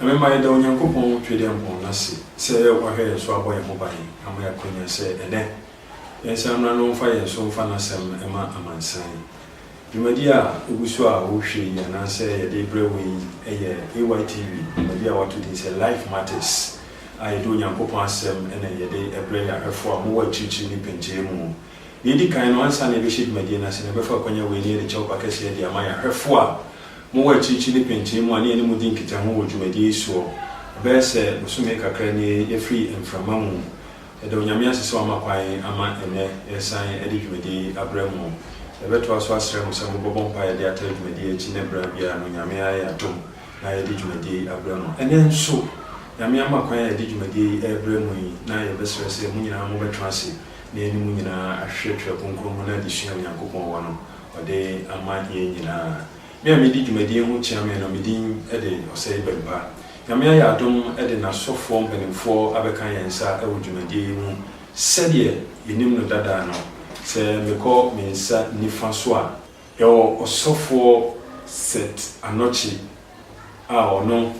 Ɛbɛma yɛada Onyankopɔn Tweaduampɔn no ase sɛ wahwɛ yɛn so abɔ yɛn ho ban ama yɛakwanya sɛ ɛnnɛ, yɛnsan mmra na ɔmfa yɛn so mfa n'Asɛm mma amansan. Dwumadi a egu so a wohwɛ yi anaasɛ yɛde rebrɛ wo yi yɛ AYTV dwumadi a wɔato din sɛ Life Matters a yɛde Onyankopɔn Asɛm na yɛde brɛ yɛn ahwɛfo a wɔwɔ akyirikyiri ne pɛntire mu Nea edi kan no, ansa na yɛbɛhyɛ dwumadie no ase no, yɛbɛfa akwanya wei ne yɛde kyɛwpa kɛseɛ de ama yɛn ahwɛfoɔ a mowɔ akyirikyiri ne pɛnkyɛn mu a ne yɛne mo di nkitaho wɔ dwumadie yi soɔ. Ɛbɛyɛ sɛ bosome kakra nie yɛafiri mframa mu. Yɛda Onyame ase sɛ wama kwan ama ɛnnɛ yɛresan de dwumadie yi abrɛ mo. Yɛbɛtoa so asrɛ mo sɛ mobɛbɔ mpaeɛ de ataa dwumadie yi akyi ne berɛ biara no Nyame ayɛ adom na yɛde dwumadie yi abrɛ mo. Ɛnnɛ nso, Nyame ama kwan a yɛde dwumadie yi rebrɛ mo yi na yɛbɛsrɛ sɛ mo nyinaa mobɛtra ase na yɛne mo nyinaa ahwehwɛ Twerɛ Kronkron mu ne adesua a Onyankopɔn wɔ no ɔde ama yɛn nyinaa. Me a medi dwumadie ho kyeame no, me din de Osei Bempah. Nyame ayɛ adom de N'asɔfoɔ mpanimfoɔ abɛka yɛn nsa wɔ dwumadie yi mu sɛdeɛ yɛnim no dada no. Sɛ mekɔ me nsa nifa so a, yɛwɔ Ɔsɔfoɔ Seth Anokye, a ɔno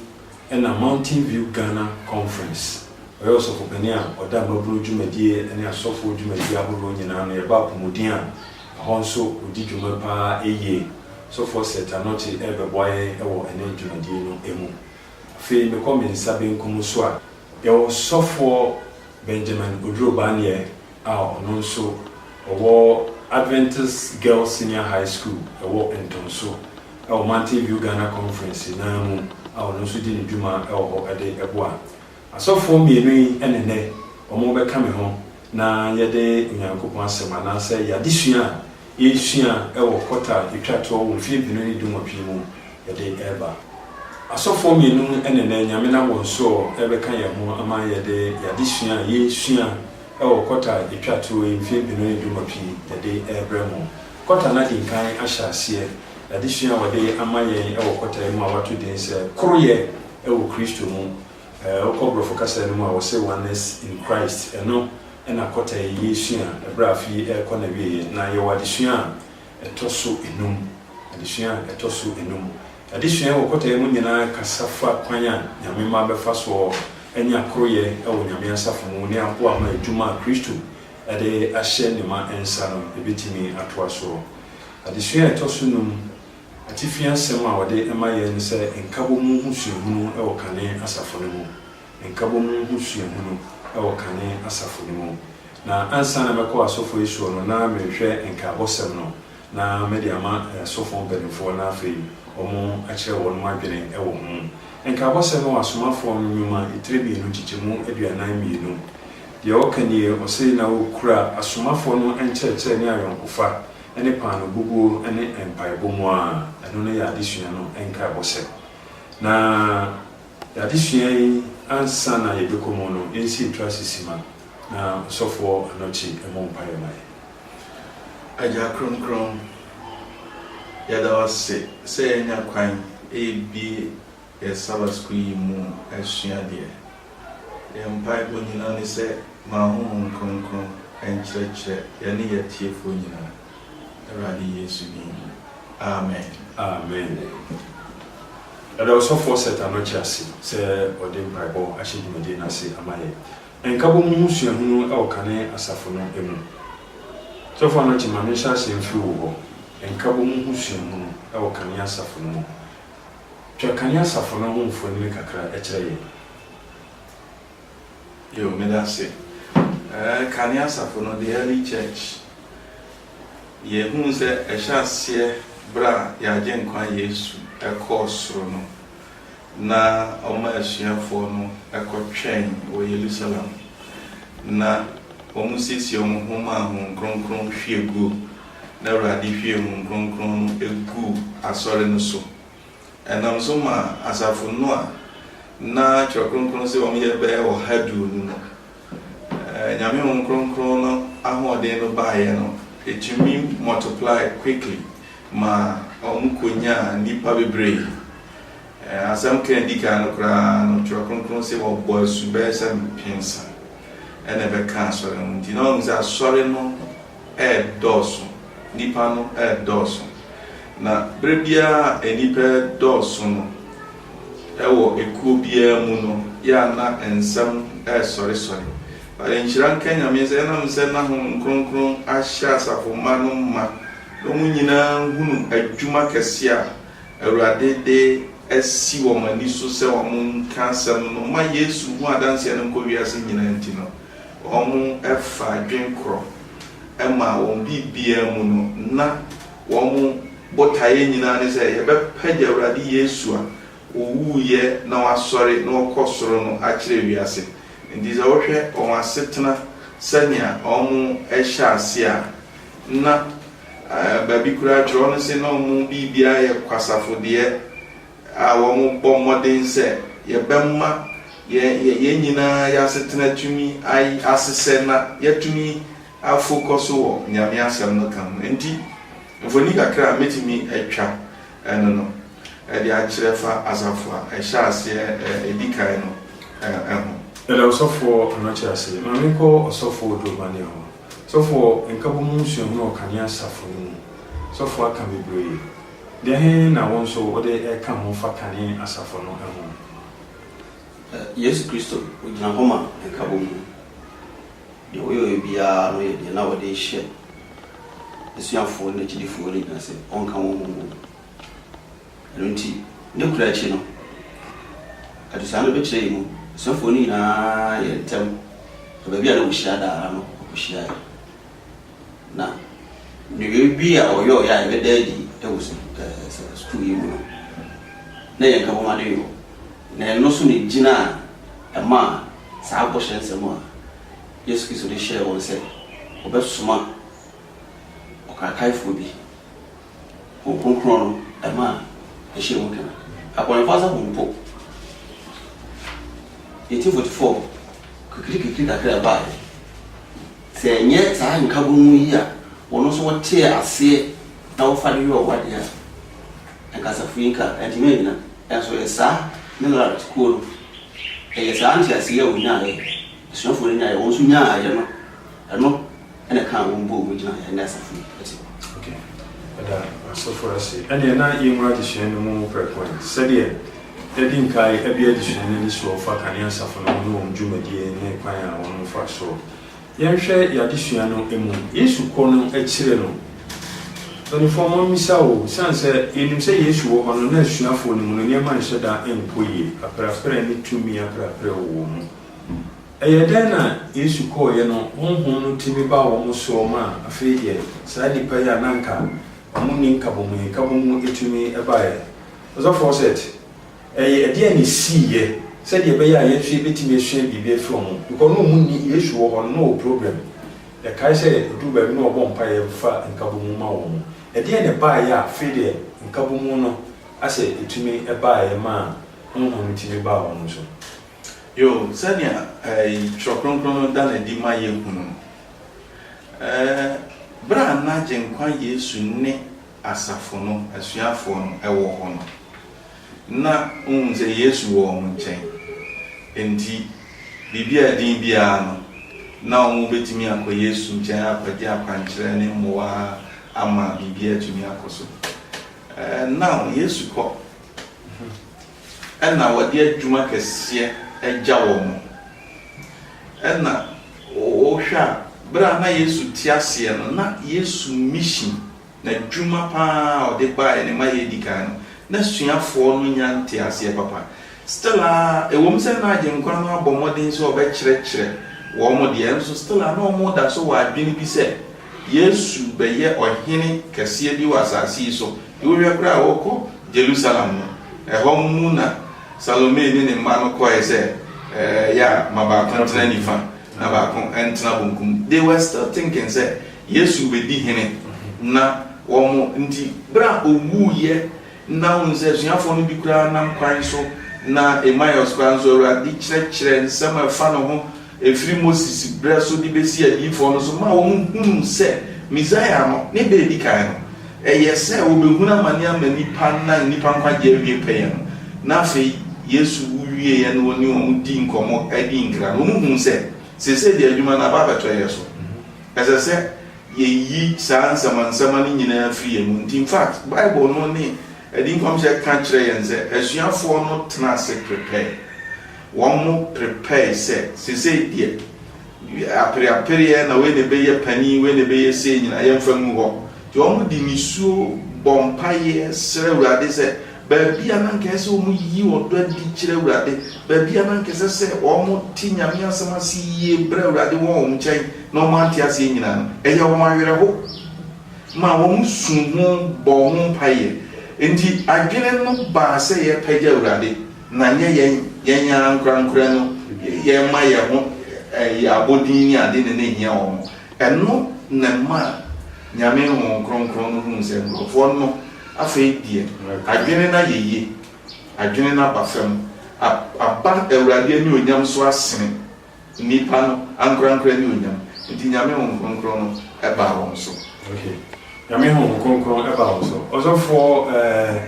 na Mountain View Ghana Conference, ɔyɛ ɔsɔfopanin a ɔda mmabunu dwumadie ne asɔfoɔ dwumadie ahoroɔ nyinaa ano, yɛba apomuden a, ɛhɔ nso ɔdi dwuma pa ara yie. Sɔfoɔ Seth Anokye rebɛboa yɛn wɔ ɛnnɛ dwumadie no mu. Afei mekɔ me nsa benkum so a. Yɛwɔ Sɔfoɔ Benjamin Oduro Baneɛ a ɔno nso ɔwɔ Adventist Girls Senior High School ɛwɔ Ntonso wɔ Mountain View Ghana Conference no ara mu a ɔno nso di ne dwuma wɔ hɔ de boa asɔfoɔ mmienu yi ne nnɛ wɔrebɛka me ho na yɛde Onyankopɔn Asɛm anaasɛ yɛn adesua a yɛresua wɔ kɔta a ɛtwa toɔ wɔ mfeɛ mpenu ne dunwɔtwe yi mu de reba. Asɔfoɔ mmienu na ɛnnɛ Nyame nam wɔn soɔ rebɛka yɛn ho ama yɛde yɛn adesua a yɛresua wɔ kɔta a ɛtwa toɔ yi mfeɛ mpenu ne dunwɔtwe yi de rebrɛ mo. Kɔta no adi nkan ahyɛ aseɛ. Adesua a wɔde ama yɛn wɔ kɔta yi mu a wɔato din sɛ Koroyɛ wɔ Kristo Mu Eh, wokɔ Borɔfo kasa no mu a, wɔse oneness in Christ. Ɛno na kɔta yi yɛresua ɛberɛ a afe yi rekɔ n'awieɛ. Na yɛwɔ adesua a ɛtɔ so enum. Adesua a ɛtɔ so enum. Adesua yi wɔ kɔta yi mu nyinaa kasa fa kwan a Nyame mma bɛfa soɔ anya koroyɛ wɔ Nyame asafo mu ne aboa ama adwuma a Kristo de ahyɛ Ne mma nsa no ɛbɛtumi atoa soɔ. Adesua a ɛtɔ so num. Atifi asɛm a wɔde ma yɛn ne sɛ Nkabom ho suahunu wɔ kane asafo no mu, Nkabom ho suahunu wɔ kane asafo no mu. Na ansa na mɛkɔ asɔfo asuo no na merehwɛ nkaabɔsɛm no na mede ama asɔfo mpaninfoɔ na afei wɔn akyerɛ wɔnom adwene wɔ ho. Nkaabɔsɛm wɔ Asomafoɔ no nwoma tire mmienu nkyekyɛmu aduanan mmienu. Deɛ ɔka nie, ɔse, Na wɔkura asomafoɔ no nkyerɛkyerɛ ne ayɔnkofa ne paanoo bubuo ne mpaebɔ mu a, ɛno ne yɛn adesua no nkaebɔ sɛ. Na yɛn adesua yi ansa na yɛbɛkɔ mu no, yɛnsi ntoase simma na ɔsɔfoɔ Anokye mmɔ mpaeɛ ma yɛn. Agya Kronkron, yɛda wo ase sɛ yɛanya kwan rebie Yɛ Saba sukuu yi mu asua deɛ. Yɛn mpaebɔ nyinaa ne sɛ ma Honhom Kronkron nkyerɛkyerɛ yɛne yɛatiefoɔ nyinaa, Awurade Yesu din mu, amen. Amen. Yɛda Ɔsɔfoɔ Seth Anokye ase sɛ ɔde mpaebɔ ahyɛ dwumadie no ase ama yɛn. Nkabom ho suahunu wɔ kane asafo no mu. Sɔfo Anokye ma menhyɛ aseɛ mfiri wo hɔ. Nkabom ho suahunu wɔ kane asafo no mu. Twa Kane Asafo no ho mfonini kakra kyerɛ yɛn. Yo, medase. Eh, Kane Asafo no, the early church. Yɛhuu sɛ ɛhyɛ aseɛ berɛ a yɛn Agyenkwa Yesu kɔɔ soro no, na ɔma asuafoɔ no kɔtwɛn wɔ Yerusalem, na wɔsiesie wɔn ho maa Honhom Kronkron hwie guo. na Awurade hwiee Honhom Kronkron no guu Asɔre no so. Ɛnam so maa asafo no a na Twerɛ Kronkron se wɔyɛ bɛyɛ ɔha aduonu no, Nyame Honhom Kronkron no ahoɔden no baeɛ no, ɛtumi multiply quickly maa wɔn kɔnyaa nnipa bebree. Asɛm ka a ɛdi kan no koraa no, Twerɛ Kronkron se wɔbɔɔ asu bɛyɛ sɛ mpensa na ɛbɛkaa Asɔre no ho. Nti na wɔahu sɛ Asɔre no, redɔɔso, nnipa no redɔɔso. Na berɛ biara a nnipa redɔɔso no wɔ ekuo biara mu no, yɛ a na nsɛm resɔresɔre. But nhyira nka Nyame sɛ ɛnam sɛ na Honhom Kronkron ahyɛ asafo mma no ma na wɔn nyinaa hunu adwuma kɛseɛ a Awurade de asi wɔn ani so sɛ wɔnka asɛm no ma Yesu ho adanseɛ no nkɔ wiase nyinaa nti no, Wɔfa dwen korɔ ma wɔn biribiara mu no, na wɔn botaeɛ nyinaa ne sɛ yɛbɛpagya Awurade Yesu a ɔwuiɛ na wasɔre na ɔkɔ soro no akyerɛ wiase. Nti sɛ wohwɛ wɔn asetena sɛnea wɔhyɛ aseɛ a, na baabi koraa twerɛ no se na wɔn biribiara yɛ kwasafodeɛ. a wɔbɔ mmɔden sɛ yɛbɛma yɛn nyinaa yɛn asetena atumi asesɛ na yɛatumi afokɔ so wɔ Nyame Asɛm no ka ho. Enti, mfoni kakra a mɛtumi atwa no no de akyerɛ fa asafo a ɛhyɛɛ aseɛ ɛdi kan no ho. Yɛda ɔsɔfoɔ Anokye ase. Ma menkɔ ɔsɔfoɔ Odurobane hɔ. Sɔfoɔ, Nkabom ho nsuahunu wɔ Kanea Asafo no mu. Sɔfoɔ aka bebree. Dɛn na wo nso wode reka ho fa kane asafo no ho? Ɛ, Yesu Kristo, ogyina hɔ ma nkabom no. Deɛ ɔyɔeɛ biara no yɛ deɛ na ɔde rehyɛ n'asuafoɔ ne n'akyidifoɔ no ngyina sɛ ɔnka wɔn ho mmom. Ɛno nti, ne kura akyi no, adesua no bɛkyerɛ yɛn mu, asuafoɔ no nyinaa yɛɛ ntɛm, na baabi a na wɔhyia daa ara no wɔkɔhyiaeɛ. Na nneyɔe bi a wɔyɔe a ɛbɛda adi wɔ sukuu yi mu no, na yɛn nkabom ade yɔ, na ɛno nso na egyina a ɛmaa saa bɔhyɛ nsɛm a Yesu Kristo de hyɛɛ wɔn sɛ wɔbɛsoma ɔkrataefoɔ bi, Honhom Kronkron no, ɛmaa ɛhyɛɛ mu kena. Abɔnefo asafo mpo, 1844, kakirikakiri kakra ɛbaeɛ. Sɛ ɛnyɛ saa nkabɔmu yi a wɔn nso wɔtee aseɛ na wɔfa de yɔɔ w'adeɛ a, anka asafo yi nka antumi annyina. Nanso ɛyɛ saa Millard kuo no, ɛyɛ saa nteaseɛ yi a wɔnyaaeɛ, asuafoɔ no nyaaeɛ, wɔn nso nyaaeɛ no, ɛno na ɛkaa wɔn bɔɔ mu gyinaeɛ a ɛnnɛ asafo yi te hɔ. Ok, yɛda asɔfo ase. Ɛnneɛ na yɛnwura adesua no mu prɛko ɛ. Sɛdeɛ yɛadi nkae abue adesua no anisoɔ fa Kanea Asafo no ho ne wɔn dwumadie ne kwan a wɔn mfasoɔ. Yɛnhwɛ yɛn adesua no mu. Yesu kɔ no akyire no, mpanimfoɔ mo mmisa o, ɛsiane sɛ yɛnim sɛ Yesu wɔ hɔ no, na asuafoɔ no mu no nneɛma nhyɛ da nkɔ yie, aperapera ne tumi aperapera wɔ wɔn mu. Ɛyɛɛ dɛn na Yesu kɔeɛ no Honhom no tumi baa wɔn soɔ ma afei deɛ saa nnipa yi a na anka wɔnni nkabomuyikabomu tumi baeɛ? Ɔsɔfoɔ Seth. Ɛyɛ ɛdeɛn na ɛsiiɛ sɛdeɛ ɛbɛyɛ a yɛn nso yɛbɛtumi asua biribi afiri wɔn hɔ? Because na wɔn nni, Yesu wɔ hɔ no, na ɔwɔ program. Yɛkae sɛ ɛduru baabi na ɔbɔ mpaeɛ fa nkabomu ma wɔn. Ɛdeɛn na ɛbaeɛ a afei deɛ nkabomu no asɛ ɛtumi baeɛ maa Honhom no tumi baa wɔn so? Yoo, sɛdeɛ Twerɛ Kronkron no da no adi ma yɛhunu no, berɛ a na Agyenkwa Yesu ne asafo no asuafoɔ no wɔ hɔ no, na wohu sɛ Yesu wɔ wɔn nkyɛn. Enti biribi a ɛden biara no, na wɔbɛtumi akɔ Yesu nkyɛn akɔgye akwankyerɛ ne mmoa ama biribi atumi akɔ so. Ɛnna Yesu kɔ. Ɛna wɔde adwuma kɛseɛ agya wɔn. Ɛna wohwɛ a, berɛ a na Yesu te aseɛ no, na Yesu mission, n'adwuma pa ara a ɔde baeɛ no, ma yɛdi kan no, na asuafoɔ no nya nteaseɛ papa. Still ara, ɛwom sɛ na Agyenkwa no abɔ mmɔden sɛ ɔbɛkyerɛkyerɛ wɔn deɛ, nso still ara na wɔda so wɔ adwene bi sɛ Yesu bɛyɛ Ɔhene kɛseɛ bi wɔ asase yi so, Wohwɛ koraa a, wɔkɔ Jerusalem no, ɛhɔ mu na Salome ne ne mma no kɔe sɛ, Ya, ma baako ntena nifa na baako ntena benkum. They were still thinking sɛ Yesu bedi hene na wɔn nti, bere a owuiɛ na wohu sɛ asuafoɔ no bi koraa nam kwan so na Emmaus koraa nso, Awurade kyerɛkyerɛ nsɛm a ɛfa ne ho. Ɛfiri Moses berɛ so de bɛsi adiyifoɔ no so maa wɔhunuu sɛ Mesaia no, ne da a ɛdi kan no, ɛyɛ sɛ wɔbɛhunu amane ama nnipa na nnipa nkwagyeɛ awie pɛyɛ no. Na afei Yesu wu wieeɛ na ɔne wɔn dii nkɔmmɔ dii nkra no, wɔhuu sɛ seesei deɛ adwuma no aba abɛtɔ yɛn so. Ɛsɛ sɛ yɛyi saa nsɛmansɛma no nyinaa firi yɛn mu. Nti infact Bible no ne Adi Nkɔmhyɛ ka kyerɛ yɛn sɛ asuafoɔ no tena ase prepare Wɔprepare sɛ, Seesei deɛ, apereapereɛ na wei na ɛbɛyɛ panin, wei na ɛbɛyɛ sei nyinaa, yɛmfa ngu hɔ. Nti wɔde nisuo bɔ mpaeɛ srɛ Awurade sɛ, baabi a na anka ɛsɛ sɛ wɔyi ɔdɔ adi kyerɛ Awurade, baabi a na anka ɛsɛ sɛ wɔte Nyame asɛm ase yie brɛ Awurade wɔ wɔn nkyɛn na wɔante aseɛ nyinaa no, ɛyɛɛ wɔn awerɛho maa wɔsuu ho bɔɔ ho mpaeɛ. Enti adwene no baa sɛ yɛrepagya Awurade. Na ɛnyɛ yɛn yɛn ara ankorankorɛ no yɛma yɛn ho yɛ abɔdin ne ade na na ɛhia wɔn. Ɛno na ɛmaa Nyame Honhom Kronkron no huu sɛ nkorɔfoɔ no afei deɛ adwene no ayɛ yie, adwene no aba fam, aba Awurade anuonyam so asene. Nnipa no ankorankora ne onyam. Nti Nyame Honhom Kronkron no baa wɔn so. Ok. Nyame Honhom Kronkron baa wɔn so. Ɔsɔfoɔ eh,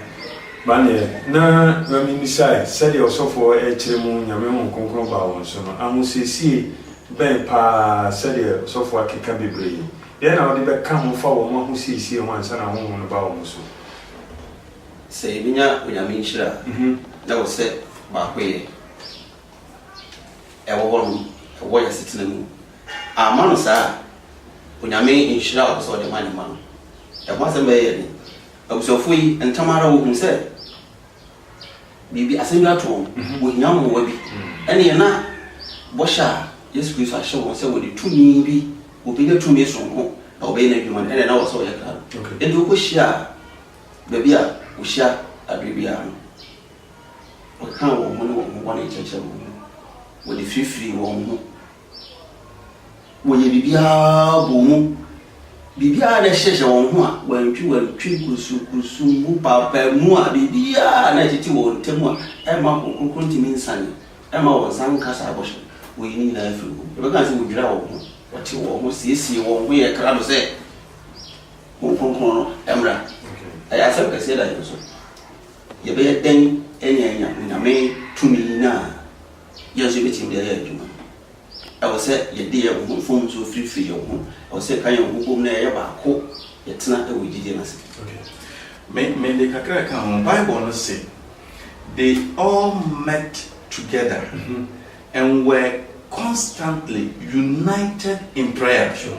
Maneɛ, na Mame mmisae, sɛdeɛ ɔsɔfoɔ rekyerɛ mu Nyame Honhom Kronkron baa wɔn so no, ahosiesie bɛn paa sɛdeɛ ɔsɔfoɔ akeka bebree. Deɛn na wode bɛka ho fa wɔn ahosiesie ho ansa na Honhom no baa wɔn so? Sɛ yɛbɛnya Onyame nhyira a, na ɛwɔ sɛ baakoyɛ. ɛwɔ hɔ nom ɛwɔ yɛ asetena mu amma no saa a Onyame nhyira a ɔpɛ sɛ ɔde ma ne mma no ɛho asɛm bɛyɛ yɛ den. Abusuafoɔ yi ntɛm ara wɔhunu sɛ biribi asɛm bi ato wɔn, wɔhia mmoa bi ɛneɛ na bɔhyɛ a Yesu Kristo ahyɛ wɔn sɛ wɔde tumi bi, wɔbɛnya tumi sononko na wɔbɛyɛ n'adwuma no ɛneɛ na wɔsɛ wɔyɛ krado. Enti wɔkɔ hyia baabi a wɔhyia aberɛ biara no Wɔkaa wɔn ho ne wɔn ho bɔne kyerɛkyerɛɛ wɔn mu, wɔde firifirii wɔn ho, wɔyɛɛ biribiara bɔɔ mu, biribiara a na ɛhyehyɛ wɔn ho a wɔantwiwantwi, kurusukurusu, mmu, paapaamu a biribiara a na ɛtete wɔn ntam a ɛmma Honhom Kronkron ntumi nsiane, ɛmma wɔn nsa nka saa bɔhyɛ no, wɔyii ne nyinaa firii wɔn mu. Yɛbɛka sɛ wɔdwiraa wɔn ho, wɔtew wɔn ho, siesiee wɔn ho yɛɛ krado sɛ Honhom Kronkron no mmra. Ɛyɛ asɛm kɛseɛ da yɛn so. Yɛbɛyɛ dɛn de anya Onyame tumi no a yɛn nso yɛbɛtumi de ayɛ adwuma no? Ɛwɔ sɛ yɛde yɛn ho, mfomso firifiri yɛn ho. Ɛwɔ sɛ yɛka yɛn ho bom na yɛyɛ baako, yɛtena wɔ gyidie no ase. Okay. Me, mede kakra ka ho. Bible no se, They all met together and were constantly united in prayer. Sure.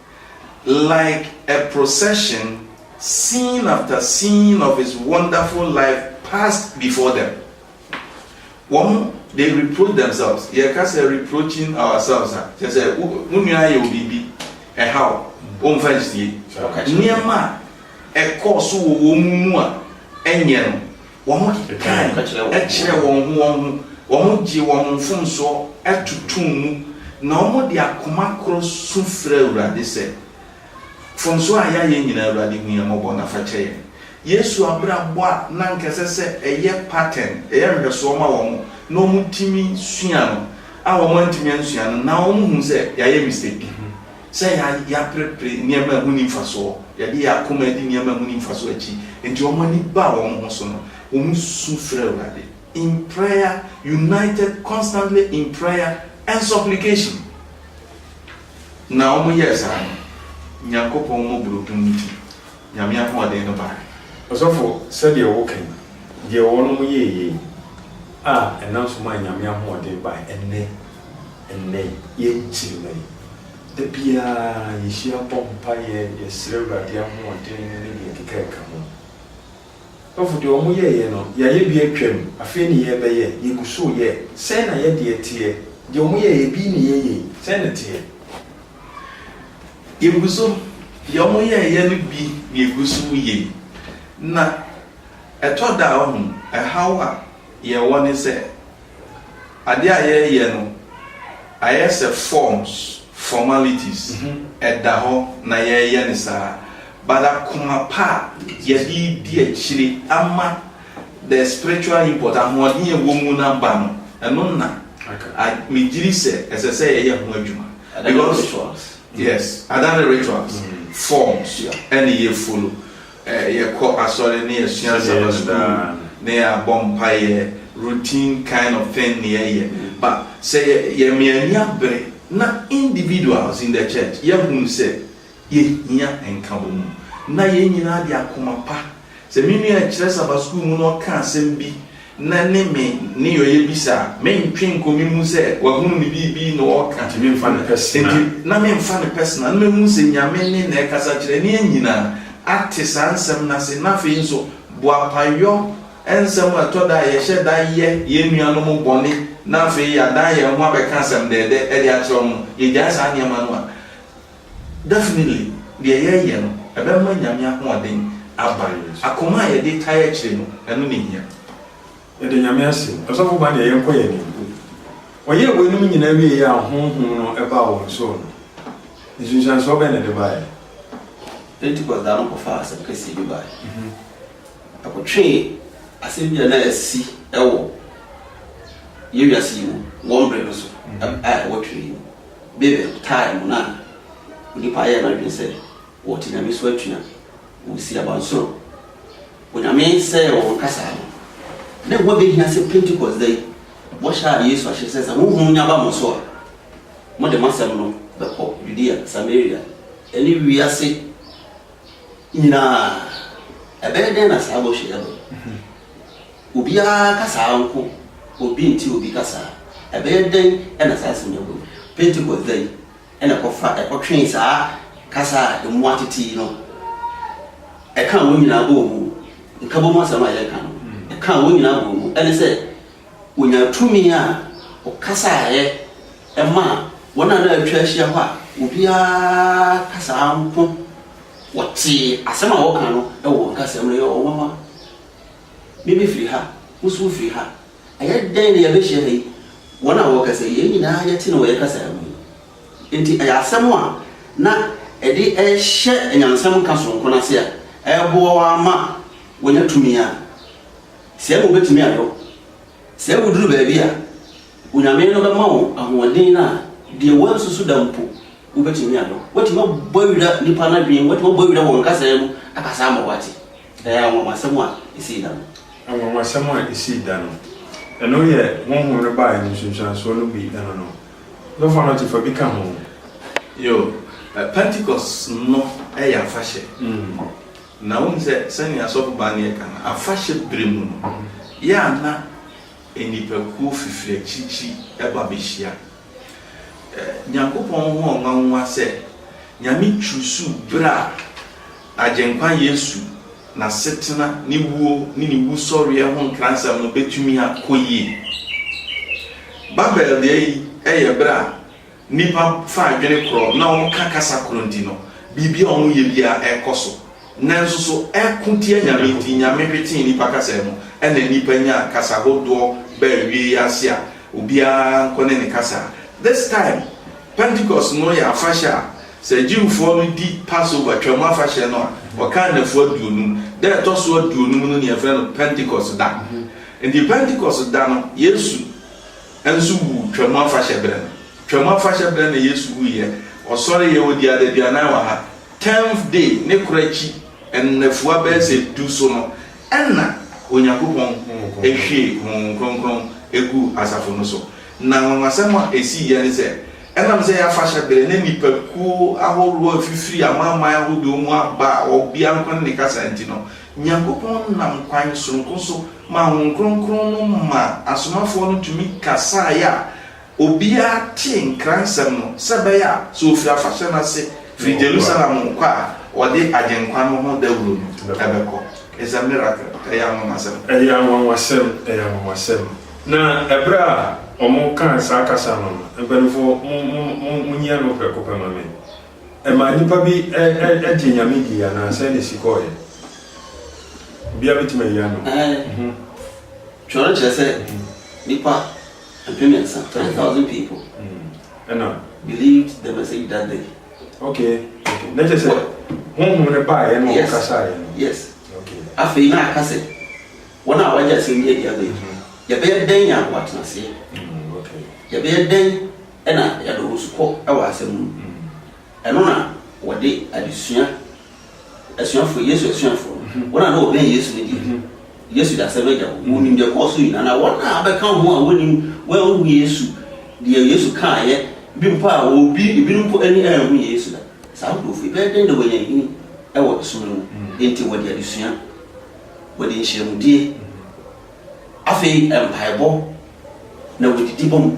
Like a procession, scene after scene of his wonderful life passed before them. Wɔn, they reproach themselves. Yɛka sɛ reproaching ourselves a, kyerɛ sɛ wo wo nua ayɛ wo biribi, ɛha wo, womfa nsie. Nneɛma a ɛkɔɔ so wɔ wɔn mu a ɛnyɛ no, Wɔkekae kyerɛɛ wɔn ho wɔn ho, wɔgyee wɔn mfomsoɔ totoo mu, na wɔde akoma korɔ su frɛɛ Awurade sɛ, Mfomsoɔ a yɛayɛ nyinaa, Awurade, hu yɛn mmɔbɔ na fa kyɛ yɛn. Yesu abrabɔ a na anka ɛsɛ sɛ ɛyɛ pattern, ɛyɛ nhwɛsoɔ ma wɔn, na wɔtumi sua no, a wɔantumi ansua no, na wɔhunu sɛ yɛayɛ mistake. sɛ yɛaperepere nneɛma a ɛho nni mfasoɔ, yɛde yɛn akoma adi nneɛma a ɛho nni mfasoɔ akyi, enti wɔn ani baa wɔn ho so no, wɔsu frɛɛ Awurade in prayer, united constantly in prayer and supplication. Na wɔyɛɛ saa no, Nyankopɔn mmɔborɔhunu nti, Nyame ahoɔden no bae. Ɔsɔfo, sɛdeɛ woka yi, deɛ wɔnom yɛɛ yei, a ɛnam so maa Nyame ahoɔden bae, ɛnnɛ, ɛnnɛ yi, yɛn nkyirimma yi, da biara yɛhyia bɔ mpaeɛ, yɛsrɛ Awurade ahoɔden ne deɛ ɛkeka ɛka ho. Ɔsɔfo, deɛ wɔn yɛeɛ no, yɛayɛ bi atwam, afei ne yɛrebɛyɛ, yɛgu so reyɛ, sɛn na yɛdeɛ teɛ? Deɛ wɔn yɛeɛ, ebi ne yɛn yei, sɛn na ɛteɛ? Yegu so, deɛ wɔyɛeɛ no bi na yɛgu so reyɛ yi. Na ɛtɔ da a, woahu, ɛhaw a yɛwɔ ne sɛ, adeɛ a yɛreyɛ no ayɛ sɛ forms, formalities, ɛda hɔ na yɛreyɛ no saa, but akoma pa a yɛde redi akyire ama. The spiritual import, ahoɔden a ɛwɔ mu no aba no, ɛno na megyiri sɛ ɛsɛ sɛ yɛyɛ ho adwuma. Adane rituals. Yes, adane rituals, forms ɛne yɛ follow. Yɛkɔ asɔre ne yɛsua Sabbath school ne yɛabɔ mpaeɛ, routine kind of thing ne yɛyɛ. But sɛ yɛma yɛn ani abere na individuals in the church yɛahunu sɛ Yɛhia nkabom na yɛn nyinaa de akoma pa. Sɛ me nua a ɛkyerɛ sɛ aba sukuu mu na ɔka asɛm bi na ne me nneyɔeɛ bi sɛ a, mentwe nkɔ me mu sɛ wahunu me biribi na ɔreka. Nti memfa no personal. Nti na memfa no personal. Na mɛhunu sɛ Nyame nne na ɛkasa kyerɛ ne yɛn nyinaa. Ate saa nsɛm no ase. Na afei nso, boapayɔ nsɛm a ɛtɔ da a yɛhyɛ da yɛ yɛn nuanom bɔne na afei yɛadan yɛn ho abɛka asɛm dɛɛdɛ de akyerɛ wɔn no, yɛgyae saa nneɛma no a, Definitely deɛ yɛyɛ no ɛbɛma Nyame ahoɔden aba yɛn so. Akoma a yɛde tae akyire no ɛno na ɛhia. Yɛda Nyame ase. Ɔsɔfo Bane deɛ yɛnkɔ yɛn anim. Wɔyɛɛ weinom nyinaa wieeɛ a Honhom no baa wɔn so no, nsunsuansoɔ bɛn na ɛde baeɛ? Pentecost da no ɔkɔfaa asɛm kɛseɛ bi baeɛ. Ɛkɔtwee asɛm bi a na asi wɔ yɛn wiase yi mu wɔ mmerɛ no so a ɛwɔ twerɛ yi mu. Babel time mu no a onipa yɛ n'adwene sɛ ɔte Nyame so atua wɔn si abansoro. Onyame sɛɛ wɔn kasaa no. Na ɛho abɛhia sɛ Pentecost da yi bɔhyɛ a Yesu ahyɛ sɛ sɛ Honhom no nya ba mo so a mode m'asɛm no bɛkɔ Yudea, Samaria ne wiase nyinaa. Ɛbɛyɛ dɛn na saa bɔhyɛ yi aba mu? Obiara kasaa nko, obi nte obi kasaa. Ɛbɛyɛ dɛn na saa asɛm yi aba mu? Pentekoste da yi na ɛkɔfa ɛkɔtwee saa kasa a emu atete yi no. Ɛkaa wɔn nyinaa bɔɔ mu. Nkabom asɛm a yɛreka no, ɛkaa wɔn nyinaa bɔɔ mu. Ɛne sɛ, wɔnyaa tumi a wɔkasaeɛ maa wɔn a na wɔatwa ahyia hɔ a obiara kasaa nko. Wɔtee asɛm a wɔka no wɔ wɔn kasam no, ɛyɛ wɔn nwanwa. Me mefiri ha, wo nso wofiri ha. Ɛyɛ dɛn na yɛabɛhyia ha yi? Wɔn a wɔrekasa yi, yɛn nyinaa yɛte no wɔ yɛn kasa mu yi. Enti ɛyɛ asɛm a na ɛde rehyɛ anyansam nka soronko no ase a ɛreboa wo ara ma woanya tumi a sɛɛ na wobɛtumi ayɛ wo. Sɛ woduru baabi a, Onyame no bɛma wo ahoɔden a deɛ woansusu da mpo wobɛtumi ayɛ. Woatumi abɔ awira nnipa no adwene mu, woatumi abɔ awira wɔn kasa mu akasa ama wɔate. Ɛyɛ anwanwasɛm a esii da no. Anwanwasɛm a esii da no. Ɛno yɛ Honhom no baeɛ no nsunsuansoɔ no bi ɛno no. Dɔfoɔ no te fa bi ka ho. Yo, Pentecost no yɛ afahyɛ. Na wonim sɛ sɛnea Asɔfo baa no yɛ ka no, afahyɛ berɛ mu no, yɛ a na nnipakuo fifiri akyirikyiri ba bɛhyia. Nyankopɔn ho nwanwa sɛ Nyame kyuusuu ber a N'Agyenkwa Yesu n'asetsena, ne wuo, ne ne Wusɔreɛ ho nkransɛm no betumi akɔ yie. Babel da yi yɛ ber a nnipa fa adwene korɔ na wɔka kasa korɔ nti no, biribi a wɔyɛ biara kɔ so. nanso so ɛko tia Nyame nti Nyame hwetee nnipa kasa mu ɛna nnipa nyaa kasa hodoɔ baa awiei yi ase a obiara nkɔ ne ne kasa This time Pentecost no yɛ afahyɛ a sɛ Jewfoɔ no di Passover, Twam afahyɛ, no a wɔkan nnafua aduonum Da a ɛtɔ so aduonum no ne yɛfrɛ no Pentecost da Nti Pentecost da no Yesu nso wuu Twam afahyɛ berɛ no Twam afahyɛ berɛ na Yesu wuiɛ Ɔsɔreeɛ Ɔdii adaduanan wɔ ha Tenth day ne koro akyi nnafua bɛyɛ sɛ du so no na Onyankopɔn hwiee Honhom Kronkron guu asafo no so. Na anwanwasɛm a esii yɛ ne sɛ, ɛnam sɛ ɛyɛ afahyɛ bere na nnipakuo ahorow a efifiri amanaman ahodoɔ mu aba a obiara nko ne ne kasa nti no, Nyankopɔn nam kwan soronko so maa Honhom Kronkron no maa asomafoɔ no tumi kasaeɛ a Obiara tee Nkransɛm no sɛ ɛbɛyɛ a sɛ ofi afahyɛ no ase firi Jerusalem rekɔ a, ɔde Agyenkwa no ho dawuro no bɛkɔ. It's a miracle. Ɛyɛ anwanwasɛm. Ɛyɛ anwanwasɛm. Ɛyɛ anwanwasɛm. Na ɛberɛ a wɔkaa saa kasa no, mpaninfoɔ, mo, mo, mo, monyi ano prɛko pɛ ma me. Ɛmaa nnipa bi ɛ, ɛ, ɛgye Nyame dii anaa sɛn na ɛsi kɔɔɛ? Obiara bɛtumi ayi ano? Ɛɛ, twerɛ no kyerɛ sɛ nnipa. Mpremmiɛnsa, three thousand people, ɛna believed the message that day. Okay, okay, na kyerɛ sɛ honhom no baeɛ na ɔkasaeɛ no. Yes, okay. Afei na aka sɛ wɔn a wɔagye asɛm bi adi abɛn, yɛbɛyɛ dɛn a wɔatena aseɛ? Mm, okay. Yɛbɛyɛ dɛn na yɛade wɔn so kɔ wɔ asɛm no mu? Ɛno na wɔde adesua, asuafo, Yesu asuafo no, wɔn a na wɔbɛn Yesu no deɛ, Yesu de asɛm no agya hɔ. Wɔnim deɛ ɛkɔɔ so nyinaa, na wɔn a abɛka ho a wɔnnim, wɔanhu Yesu, deɛ Yesu kaeɛ, bi mpo a obi, ebinom mpo ani anhu Yesu da. Saa nkurɔfoɔ yi, ɛbɛyɛ dɛn na wɔanya nhini wɔ som no mu? Enti wɔde adesua, wɔde nhyiamudie, Afei mpaebɔ na wɔdidi bɔ mu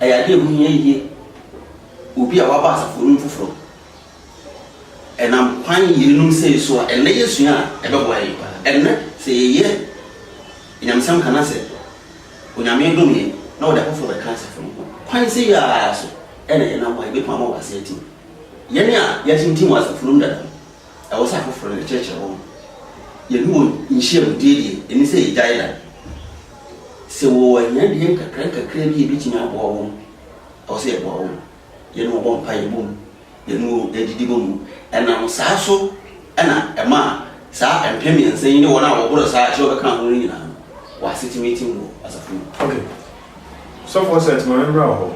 yɛ adeɛ a ɛho hia yie. Obi a waba asafo no mu foforɔ, ɛnam kwan yeinom sei so a ɛnnɛ yɛsua a ɛbɛboa yɛn pa ara. Ɛnnɛ sɛ yɛyɛ anyamesɛm ka no asɛ Onyame dom yɛn na wɔde afoforɔ bɛka asafo no ho a, kwan sei ara so na yɛnam a yɛbɛtumi ama wɔn ase atim. Yɛn a yɛatintim wɔ asafo no mu dada no, ɛwɔ sɛ afoforo no kyerɛkyerɛ wɔn. Yɛne wɔn nhyiam die deɛ, ɛnni sɛ yɛgyae da. Sɛ wɔwɔ ahiadeɛ nkakrankakra bi a ɛbɛtumi aboa wɔn, ɛwɔ sɛ yɛboa wɔn. Yɛne wɔn bɔ mpaeɛ bom, yɛne wɔn didi bom. Ɛnam saa so na ɛma saa mpem mmiɛnsa yi ne wɔn a wɔboro saa a ɛkyerɛ wɔbɛka ho no nyinaa no, wɔn ase tumi tim wɔ asafo no mu. Okay. Sɔfo Osset, ma me mmra wo hɔ.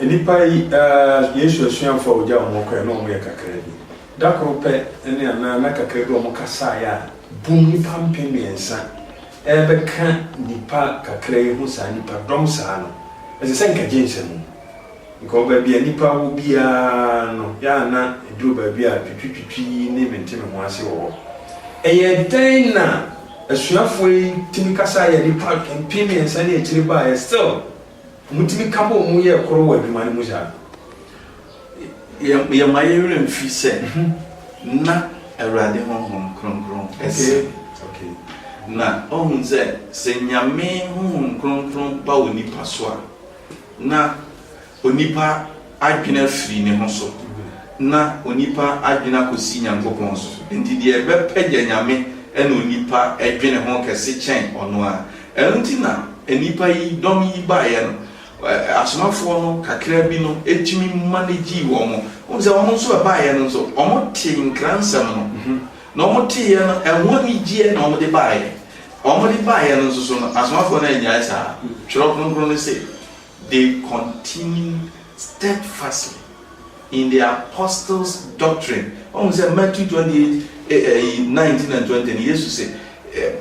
Nnipa yi, ah, Yesu asuafo a ɔgyaa wɔn hɔ kɔe no, wɔyɛ kakraa bi. Da koro pɛ ne anaa nna kakra bi a wɔkasaeɛ a, bum nnipa mpem mmiɛnsa rebɛka nnipa kakra yi ho saa nnipa dɔm saa no, ɛsɛ sɛ nka gyensɛ mu. Because baabi a nnipa wɔ biara no, yɛ a na ɛduru baabi a twitwitwitwi ne mente me ho ase wɔ hɔ. Ɛyɛɛ dɛn na asuafoɔ yi tumi kasaeɛ a nnipa mpem mmiɛnsa ne akyire baeɛ, still wɔtumi ka bɔɔ mu yɛɛ koro wɔ adwuma no mu saa? Yɛmma yɛn werɛ mfi sɛ na Awurade Honhom Kronkron sɛ. Na ɔhunu sɛ, sɛ Nyame Honhom Kronkron ba onipa so a, na onipa adwene afiri ne ho so, na onipa adwene akɔsi Nyankopɔn so. Nti deɛ ɛbɛpagya Nyame ne onipa dwene ho kɛse kyɛn ɔno ara. Ɛno nti na nnipa yi, dɔm yi baeɛ no. asomafoɔ no kakra bi no tumi manegyee wɔn. Wohu sɛ wɔn nso ɛbaeɛ no nso, wɔtee nkransɛm no, na wɔteeɛ no, ɛho anigyeɛ na wɔde baeɛ. Wɔde baeɛ no nso so no, asomafoɔ no annyae saa. Twerɛ Kronkron no se, They continued steadfastly. In the Apostles' Doctrine, woahu sɛ Matthew twenty eight ɛyi nineteen and twenty no, Yesu se,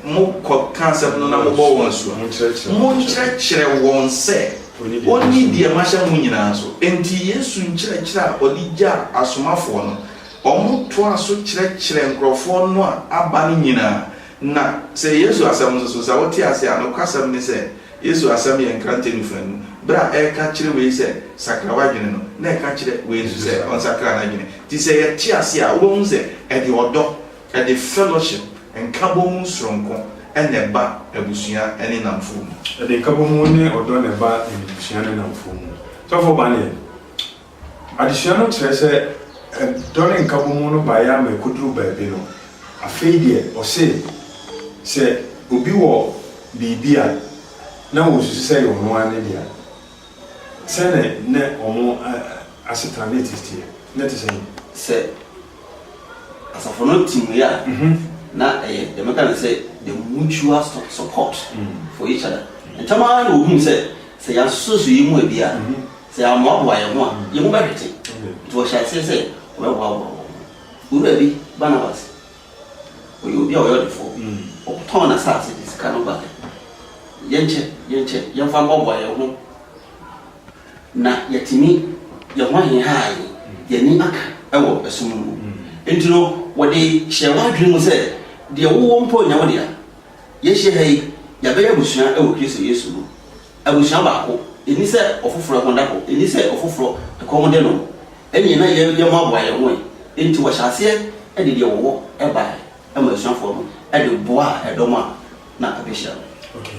Mo kɔ ka asɛm no na mo bɔ wɔn asu a, mo nkyerɛkyerɛ wɔn sɛ wɔnni deɛ mahyɛ mo nyinaa so. Enti Yesu nkyerɛkyerɛ a ɔde gyaa asomafoɔ no, wɔtoaa so kyerɛkyerɛɛ nkorɔfoɔ no a aba no nyinaa. Na sɛ Yesu asɛm nso so, sɛ wote aseɛ a, nokwasɛm ne sɛ, Yesu asɛm yɛ nkrante nufa anum. Bere a ɛka kyerɛ wei sɛ, Sakra w'adwene no, na ɛka kyerɛ wei nso sɛ, Ɔnsakra n'adwene. Enti sɛ yɛte ase a, wobɛhu sɛ ɛde ɔdɔ, ɛde fellowship, nkabom mu soronko, na ɛba abusua ne nnamfo mu. Ɛde nkabom ne ɔdɔ na ɛba abusua ne nnamfo mu. Sɔfo Banyan. Adesua no kyerɛ sɛ dɔ ne nkabɔmu no baeɛ ara ma ɛkɔduruu baabi no, afei deɛ ɔse sɛ obi wɔ biribi a na wɔsusu sɛ ɛyɛ ɔno ara ne dea. Sɛdeɛ na wɔn asetena ne ɛte teɛ no te sɛn? Sɛ asafo no te mu yɛ a, na ɛyɛ deɛ mɛka no sɛ the mutual support for each other. Ntɛm ara na wɔhuu sɛ, sɛ yɛasosɔ yɛn mu a bi a, Sɛ yɛammoaboa yɛn ho a, yɛn mu bɛhwete. Enti wɔhyɛɛ aseɛ sɛ wɔbɛboaboa wɔn ho. Owura bi, Barnabas, ɔyɛ obi a ɔyɛ ɔdefoɔ. Ɔtɔn n'asase de sika no baeɛ. Yɛnkyɛ, yɛnkyɛ, yɛmfa mmoaboa yɛn ho na yɛatumi, yɛn ho aheha yɛn, yɛn ani aka wɔ ɛso no mu. Enti no, wɔde hyɛɛ wɔn adwene mu sɛ, Deɛ wowɔ mpo nyɛ wo dea. Yɛahyia ha yi, yɛabɛyɛ abusua wɔ Kristo Yesu mu. Abusua baako nni sɛ ɔfoforɔ ɛho da hɔ, nni sɛ ɔfoforɔ ɛkɔm de no. Ɛnneɛ na yɛn yɛn mmoaboa yɛn ho ɛ. Enti wɔhyɛ aseɛ de deɛ wɔwɔ baeɛ maa asuafoɔ no de boaa ɛdɔm a na abɛhyia no. Ok.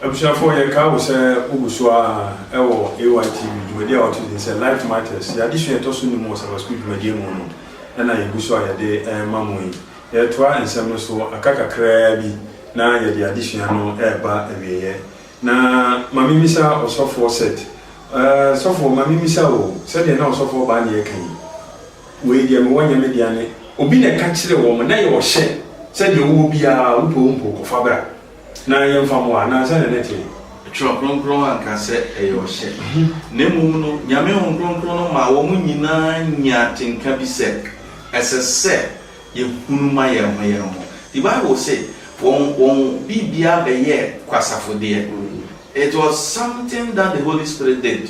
Abusuafoɔ, yɛkaa wo sɛ wogu so ara wɔ AYTV dwumadie a wɔato din sɛ Life Matters. Yɛn adesua a ɛtɔ so nnum wɔ Sabbath School dwumadie mu no na yɛgu so a yɛde rema mo yi. Yɛretoa nsɛm no so aka kakraa bi na yɛde adesua no reba awieeɛ. Na ma mimmisa ɔsɔfoɔ Set, Ɛɛ, sɔfoɔ, ma mimmisa wo o, sɛdeɛ na ɔsɔfoɔ baa no reka yi, Wei deɛ mewɔ nyɛ me dea ne. Obi na ɛka kyerɛɛ wɔn, na yɛ ɔhyɛ, sɛ deɛ wowɔ biara, wopɛ wompo, kɔfa bra, na yɛmfa mmoa, anaa sɛdeɛ na ɛteɛ? Twerɛ Kronkron anka sɛ ɛyɛ ɔhyɛ, na mmom no, Nyame Honhom Kronkron no maa wɔn nyinaa nyaa atenka bi sɛ, ɛsɛ sɛ. Yɛhunu ma yɛn ho yɛn ho. The bible se wɔn wɔn biribiara bɛyɛɛ kwasafodeɛ. It was something that the holy spirit did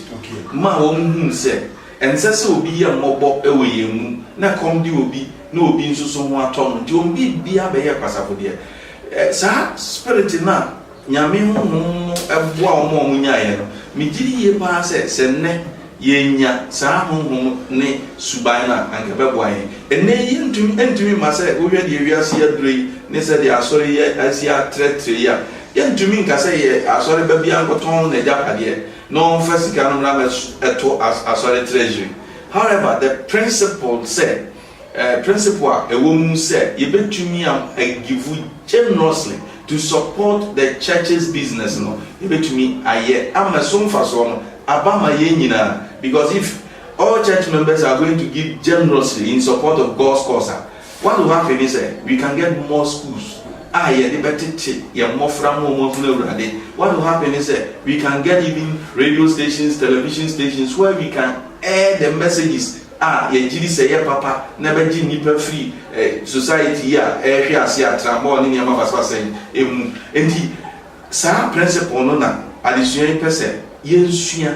maa wɔn hunu sɛ ɛnsɛ sɛ obi yɛ mmɔbɔ wɔ yɛn mu na ɛkɔm de obi na obi nso so ho atɔ no nti wɔn biribiara bɛyɛɛ kwasafodeɛ. Saa spirit no a Nyame honhom no boa wɔn a wɔnyaeɛ no. Megye di yie pa ara sɛ, sɛ nnɛ yɛanya saa honhom ne suban no a, anka ɛbɛboa yɛn. Ɛnnɛ yi yɛntumi ɛntumi mma sɛ wohwɛ deɛ wiase yi aduro yi ne sɛdeɛ asɔre yi asi atrɛtrɛ yi a, yɛntumi nka sɛ yɛ asɔreba biara nkɔtɔn n'agyapadeɛ na ɔmfa sika no mmra mmɛto asɔre treasury. However, the principle sɛ Principle a ɛwɔ mu sɛ yɛbɛtumi a give generously to support the church's business no, yɛbɛtumi ayɛ ama ɛso mfasoɔ no aba ama yɛn nyinaa. Because if all church members are going to give generously in support of God's cause a, what will happen ne sɛ, we can get more schools a yɛde bɛtete yɛn mmɔfra ma wɔn ahunu Awurade. What will happen ne sɛ, we can get even radio stations, television stations where we can air the messages. a yɛgye di sɛ ɛyɛ papa na ɛbɛgye nnipa firi society yi a ɛrehwe ase atrammɔɔ ne nneɛma basabasa yi mu. Enti saa principle no na adesua yi pɛ sɛ yɛsua,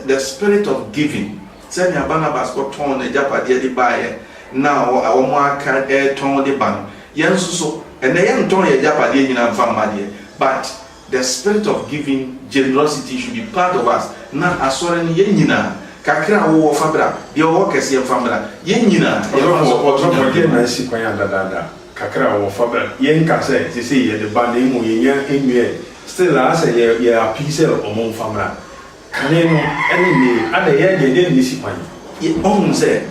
the spirit of giving, sɛnea Barnabas kɔtɔn n'agyapadeɛ de baeɛ na wɔaka retɔn de ba no, yɛn nso so ɛnnɛ yɛntɔn yɛn agyapadeɛ nyinaa mfa mma deɛ, but. The spirit of giving generosity should be part of us na Asɔre no yɛn nyinaa kakra a wo wɔ fa bra, deɛ ɔwɔ kɛseɛ mfa mmra, yɛn nyinaa yɛbɛma wɔ Ɔdɔ Ɔsɔfo Nyame deɛ no. na asi kwan a dadaada kakra a ɔwɔ fa bra, yɛn nka sɛ sesei yɛde ba na mmom yɛnya nwiaɛ still a asɛ yɛ yɛ apii sɛ ɔmo mfa mmra, Kane no ne nnɛyi ada yɛ deɛ ɛdeɛ na ɛsi kwan. Ɔhunu sɛ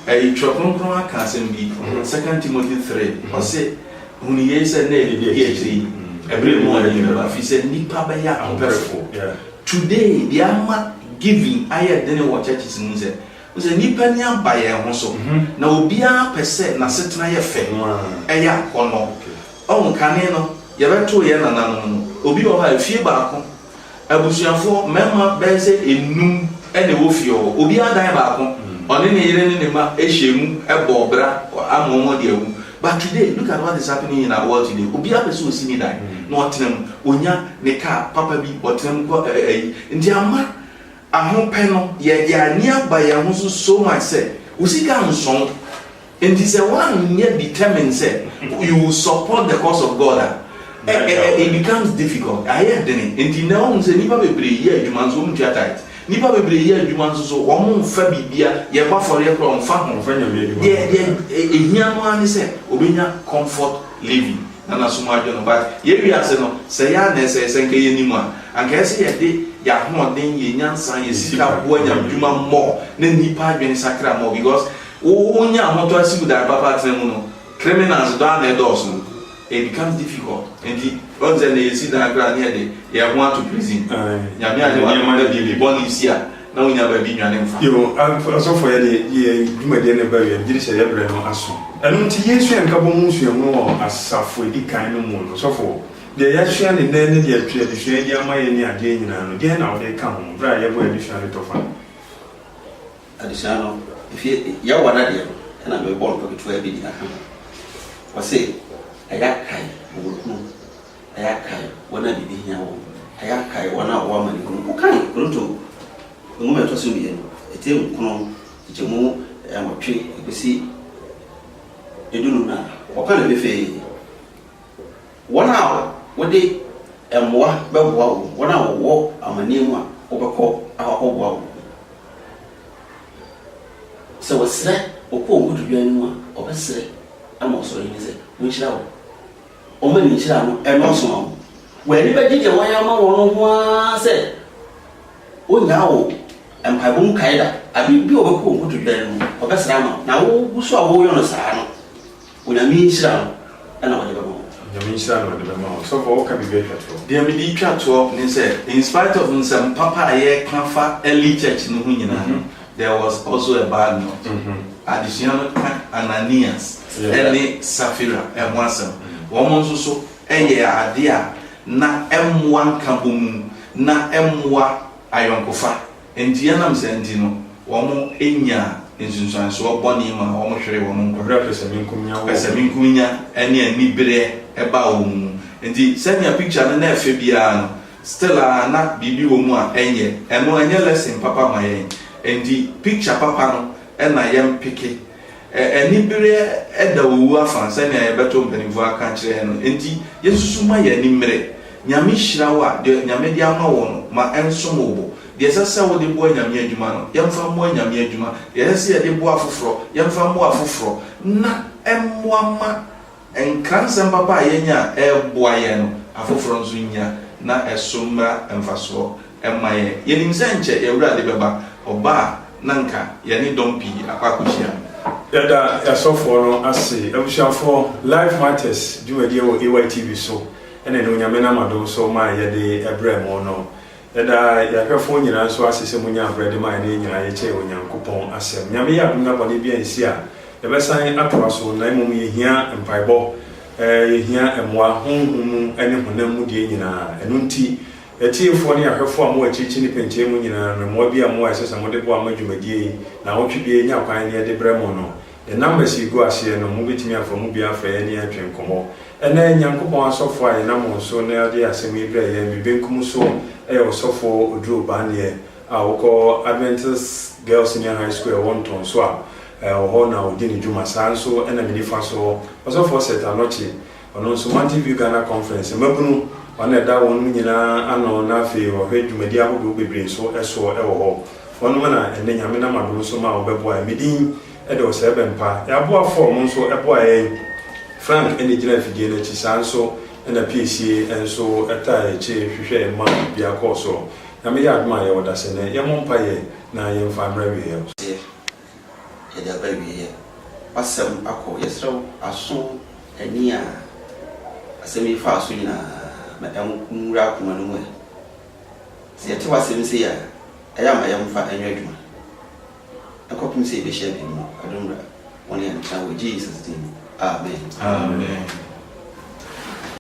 ɛyi Twerɛ Kronkron aka asɛm bi, Second Timothy three, ɔse, Hunu yei sɛ nnɛ yɛ deɛ ɛdi akyire yi, ɛberɛ mu a yɛn bɛba, ɛfiri sɛ nnipa bɛyɛ ahopɛfoɔ. Today deɛ ama giving ayɛ dene wɔ churches mu ne sɛ, wohu sɛ nnipa ani aba yɛn ho so, na obiara pɛ sɛ n'asetena yɛ fɛ, ɛyɛ akɔnnɔ. Ɔhu, kane no yɛbɛtoo yɛn nananom no, obi wɔ hɔ a efie baako Abusuafo mmarima bɛyɛ sɛ nnum na ɛwɔ fie hɔ. Obiara dan baako. Ɔne ne yere ne ne mma hyɛ mu bɔ bra ama wɔn de awu. But today, look at what is happening in our world today. Obiara pɛ sɛ ɔsi ne dan na ɔtena mu. Ɔnya ne car papa bi, ɔtena mu kɔ ɛɛ ɛyi. Nti ama Ahopɛ no yɛ yɛn ani aba yɛn ho so so much sɛ wo sika nsɔ wo. Nti sɛ woanyɛ determined sɛ you will support the cause of God a, it becomes difficult, ayɛ dene. Nti nnɛ woahu sɛ nnipa bebree yɛ adwuma nso wɔntua tithe. Nnipa bebree yɛ adwuma nso so wɔmfa biribiara, yɛbɔ afɔreɛ koraa wɔmfa ho. Deɛ ɛhia no ara ne sɛ wɔbɛnya comfort living. Nana so mu adwo no but yɛn wiase no sɛeɛ ara na ɛsɛe, sɛ nka yɛnim a anka ɛyɛ sɛ yɛde yɛn ahoɔden, yɛn nyansa, yɛn sika boa nyamedwuma more na nnipa adwene sakra more because wo wo nya ahotɔ asi wo dan papa atena mu no criminals dɔ ara na ɛdɔɔso it becomes difficult nti woahu sɛ nnɛ yɛsi dan koraa na yɛde yɛn ho ato prison Nyame anyɛ w'adom na biribi bɔne si a Na wonnya baabi nnwane mfa. Yiw, asɔfɔyɛ de yɛ dwumadi a na ɛba awiei, gye sɛ yɛbrɛ no aso. Ɛno nti, yɛresua nkabom ho nsuahu wɔ asafo a edi kan no mu no, sɔfo, deɛ yɛasua no nnɛ ne deɛ twe adesua yi de ama yɛn ne adeɛ nyinaa no, deɛn na wode reka ho bere a yɛbɔ yɛn adesua no tɔfa no? Adesua no, efie Yehowa no adeɛ no na merebɔ ntɔketewaa bi de aka ho. Wɔse, Ɛyɛ akae wɔ wɔn kunu. Yɛakae wɔn a biribi hia wɔn. Yɛakae wɔn a wɔwɔ amanehunu mu. Wokan Korinto Nwoma a ɛtɔ so mmienu, ti nkron, nkyekyɛmu nwɔtwe kosi dunum no a, wɔka no pefee. Wɔn a wode mmoa bɛboa wɔn, wɔn a wɔwɔ amanneɛ mu a wobɛkɔ akɔboa wɔn. Sɛ wɔsrɛ, wɔkɔ wɔn nkotodwe anim a, wɔbɛsrɛ ama Ɔsoro Ahenni sɛ, Monhyira wɔn. wɔn ani kyerɛ ano nnɔɔso no, wɔn ani bɛgye deɛ wɔayɛ ama wɔn no ho ara sɛ wonnyaa wo mpaebɔ mu kae da. Abe bi a wɔbɛkɔ wo nkotodwe no mu kɔbɛsra ama wo, na wogu so a woyɔ no saa no, Onyame nhyira no na wɔde bɛma wo. Onyame nhyira na wɔde bɛma wo. Sɔfo woka biribi atwa toɔ. Deɛ mede retwa toɔ ne sɛ in spite of nsɛm papa a yɛka fa early church no ho nyinaa no, There was also a bad note. Adesua no ka Ananias ne Safira ho asɛm. Wɔn nso so yɛ ade a na ɛmmoa nkabɔmu na ɛmmoa ayɔnkofa. Enti ɛnam saa nti no, wɔnyaa nsunsuansoɔ bɔne maa wɔhweree wɔn nkwa. Berɛ a pɛsɛmenkominya wɔ. Pɛsɛmenkominya ne anibereɛ baa wɔn mu. Enti sɛnea picture no na ɛfɛ biara no, Still a na biribi wɔ mu a ɛnyɛ. Ɛno ɛnyɛ lesson papa ma yɛn. Ɛnti picture papa no na yɛn peke. Ɛ anibereɛ da owu afa sɛnea yɛbɛto mpaninfoɔ aka akyerɛ yɛn no. Ɛnti yɛsusu ma yɛn ani mmere. Nyame hyira wo a deɛ Nyame de ama wo no ma ɛnsom wo bo. Deɛ ɛsɛ sɛ wode boa Nyame adwuma no yɛmfa mmoa Nyame adwuma. Deɛ ɛsɛ sɛ yɛde boa afoforɔ yɛmfa mmoa afoforɔ na ɛmmoa ma. Nkransɛm papa a yɛanya a ɛreboa yɛn no, afoforo nso nnya na ɛso mmra mfasoɔ mma yɛn. Yɛnim sɛ nkyɛ yɛn Wura de bɛba, ɔba a na anka yɛne dɔm pii akɔ akɔhyia no. Yɛda yɛasɔfoɔ no ase. Abusuafoɔ, Life Matters dwumadie wɔ AYTV so na ɛnnɛ Onyame nam adom so ma yɛde brɛ mo no. Yɛdaa yɛn ahwɛfoɔ nyinaa nso ase sɛ monyɛ abrɛ de maa yɛne yɛn nyinaa yɛkyɛɛ Onyankopɔn asɛm. Nyame yɛ adom na bɔne biara nsi a, yɛbɛsan atoa so, na mmom yɛhia mpaebɔ, yɛhia mmoa, honhom mu ne honam mu deɛ nyinaa. Ɛno nti, atiefoɔ ne ahwɛfoɔ a mowɔ akyirikyiri ne pɛnkyɛn mu nyinaa no, mmoa biara mu a ɛsɛ sɛ mode boa ma dwumadie yi, naawɔtwe biara yɛnya kwan na yɛde brɛ mo no, Yɛn numbers yi gu aseɛ no, mobɛtumi afa emu bi afrɛ yɛn ne yɛn atwe nkɔmmɔ. Ɛnnɛ, Nyankopɔn asɔfoɔ a yɛnam wɔn so na ɔde asɛm yi brɛɛ yɛn, me benkum so yɛ Ɔsɔfoɔ Oduro Baneɛ a ɔkɔ Adventist Girls Senior High School a ɛwɔ Ntɔnso a, ɛwɔ hɔ na ɔdi ne dwuma. Saa nso na me nifa soɔ, Ɔsɔfoɔ Seth Anokye Ɔno nso Mountain View Ghana Conference mmabunu, ɔno na ɛda wɔnom nyinaa ano na afei wɔhwɛ dwumadie ahodoɔ bebree nso soɔ wɔ hɔ. Wɔnom na ɛnnɛ Nyame nam adom nso ma wɔbɛboa yɛn. Medin de Ɔsɛɛbɛmpa. Yɛn aboafoɔ a wɔn nso boa yɛn, Frank na ɛgyina afidie no akyi, saa nso na Piesie nso taa yɛn akyi hwehwɛ yɛn ma biribiara kɔɔ soɔ. Nyame yɛ adom a yɛwɔ dasene. Yɛmmɔ mpaeɛ na yɛmfa mmra awieɛ. Yɛde aba awieɛ. W'asɛm akɔ. Yɛsrɛ wo aso ani a asɛm yi faa so nyinaa ma ɛnwura akoma no mu ɛ. Sɛ yɛte w'asɛm sei a, ɛyɛ a ma yɛmfa nyɛ adwuma. Ɛnkɔpem sɛ yɛbɛhyia bio no, adom mmra. Wo ne yɛn ntena wɔ Jesus din mu. Amen. Amen.